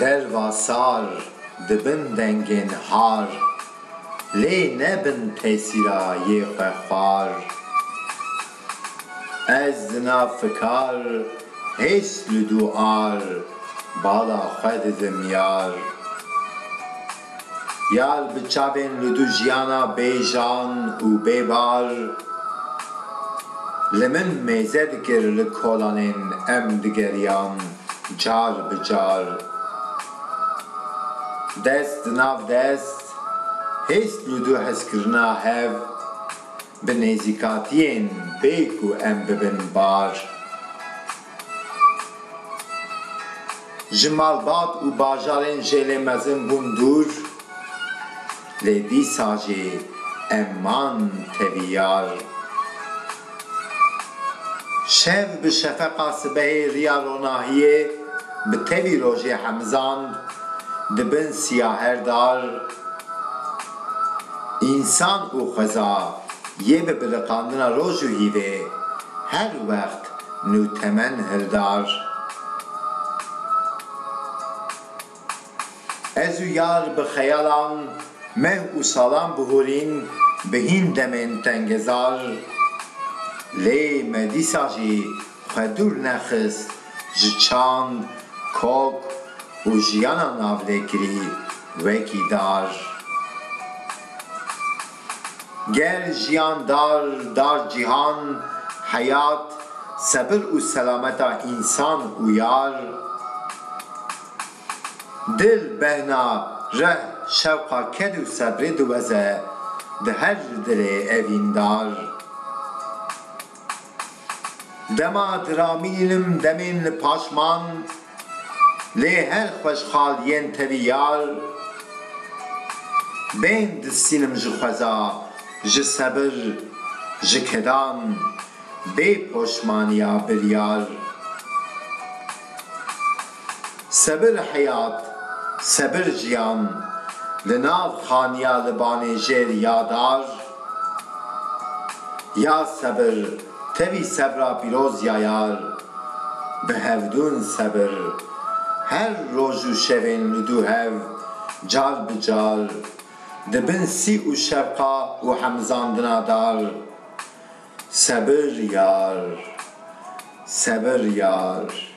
Derva sar dibin dengên har. Lê nebin tesîra yê xwe xwar. Ez dina fikar hês li dû ar. Bala xwe didim yar. Ya li bi çavên li du jiyana bê jan û bê bar li min mêze dikir li kolanên em digeriyan car bi car dest di nav dest hêst li du hezkirina hev bi nêzîkatiyên bê ku em bibin bar. Ji malbat û bajarên jêlê mezin bûn dûr, lê dîsa jî em man tevî yar. Şev bi şefeqa sibehê riya ronahiyê bi tevî rojê hemizand di bin siyaher dar. Însan û xweza yê bi biliqandina roj û hîvê her wext Nûtemen Hirdar Ez û yar bi xeyalan meh û salan bihûrîn bi hîn demên tengezar. Lê me dîsa jî xwe dûr nexist ji çand, kok û jiyana navlêkirî wekî dar. Gel, jiyan, dar, dar, cîhan, heyat, sebir û selameta însan û yar, dil, behna, reh, şewqa, ked û sebrê diweze di her dilê evîndar. Dema diramînin demên li paşman lê her xweşxal yên tevî yar bên distînim ji xweza ji sebir ji kedan bê poşmaniya biryar. Sebir heyat, sebir jiyan li nav xaniya li Banêjêr ya dar Ya sebir tevî sebra pîroz ya yar Bi hevdûn sebir Her roj û şevên li dû hev car bi car Di bin sî û şevqa û hemizandina dar Sebir yar, sebir yar.